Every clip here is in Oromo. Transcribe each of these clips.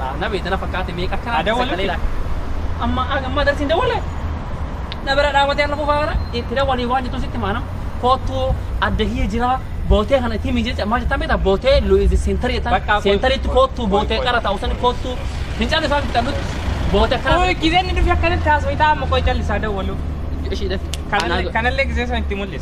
Laa na beeta na fakkaate meeqa akka Haa dawwaluu sagalee itti. laa. Amma ag amma darsiin dawwale. Na bira dhaabatee har'a fufaa kana itti dawwalii waan jettu sitti maana. Koottuu adda hiyya jira bootee kana itti himi jecha maal jettan beektaa bootee lu'izi seentarii jettan Bakka kun- seentariitti kun- koottuu kun- bootee kun- qara ta'u sani koottuu fincaan isaa fixannutti bootee akkana. Oi, gizeen ni dhufi akkanatti haasofita amma qoy callisaa dawwalu. Ishii dhafi. Kanallee kanallee gizee san itti mul'isa.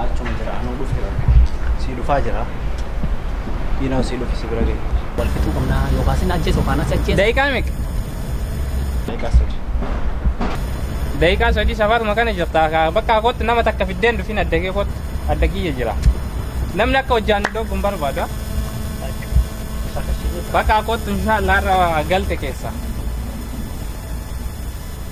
Achuma jira anuu dhufe bakka. Sii dhufaa jira. Diinaa sii dhufe si bira ga'e. Wal fixuu qabnaa yookaas inni ajjeesu yookaan as ajjeesu. Daqiiqaa meeqa? Daqiiqaa sadi. Daqiiqaa sadii safaaruma kana jirta. Ka- Bakka kootti nama takka fiddeen dhufin adda kee kootti adda kiyya jira. Namni akka hojjaan nu dhoobu hin barbaadu. ah. Bakka kootti inshaallah irra galte keessa.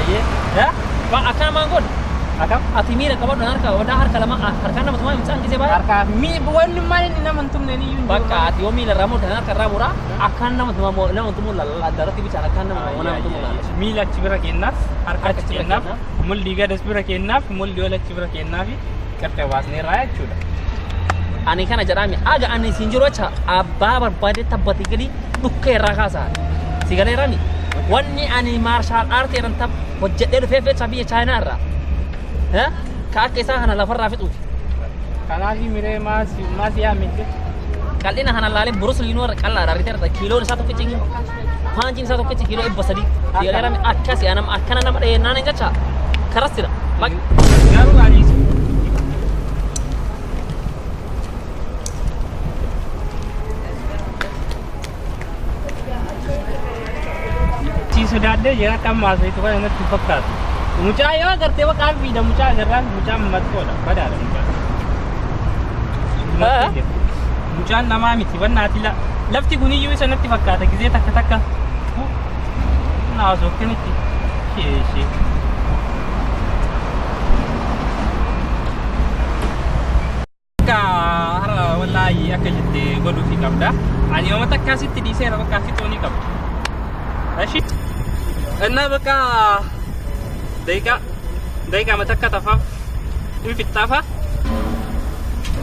Ayyee. Ya? Ba akkana maan godhu? Akam? Ati miira qabadhu harka wadaa harka lama ah, harkaan nama tumaa imsaan gisee baay'ee. Harkaa mi wanni maal inni nama hin tumne ni iyyuu Bakka ati yoo miila irraa murtan harka irraa muraa akkaan nama tumaa moo nama tumuu lalla addarratti bichaan akkaan nama tumaa nama tumuu lalla. miila achi bira kennaaf harka Harka achi achi bira kennaaf. kennaaf mulli gadas bira kennaaf mulli ol achi bira kennaaf gartee baasnee irraa jechuudha. Ani kana jedhaami aga ani siin jiru acha abbaa barbaade tabbati gali dhukkee irraa kaasaa. Si galee rami. Wanni ani maarshaal aartii irraan tab hojjedhee dhufee fecha biyya chaayinaa irraa. Ha? Ka akka isaa kana lafarraa fixuuti. Kanaaf miree maasi maasi yaa miti. Qal'ina kana laalee burus liinuu irra qal'aadha riteerta kiiloon isaa tokkichi. Paanchiin isaa tokkichi kiiloo dhibba sadii. Dhiyeerame akkasi anam akkana nama dhiyeenaan hin jecha karas jira. Maqi. Garuu ani isin Sii sodaadhee jira kan maasayitu kan natti hin fakkaatu. Mucaa yoo agartee waqaan fiida mucaa agarraan mucaan mattoodha badaadha mucaa. Haa? Mattoodha. Mucaan namaa miti bannaati la. Lafti kun iyyuu isa natti fakkaata gizee takka takka. Fu- Naa haasofte miti. Ishee ishee. Akka har'a wallaahi akka jette godhuufi qabda. Ani yooma takka asitti dhiiseera bakka fixuu ni qabda. Ashi. Innaa bakka daqiiqaa daqiiqaa matakka tafaaf hin fixxaafa.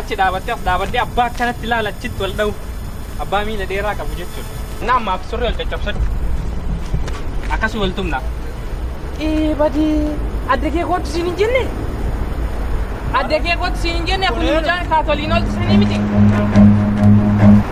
Achi dhaabattee as dhaabadhee abbaa akkanatti laala achitti wal dha'u. Abbaa miila dheeraa qabu jechuudha. Naa ammaaf surree wal caccabsadhu. Akkasii wal tumna. Ee badii adda kee kootu siin hin jenne. Adda kee kootu siin hin jenne kun mucaan kaatoliin ooltu sanii miti.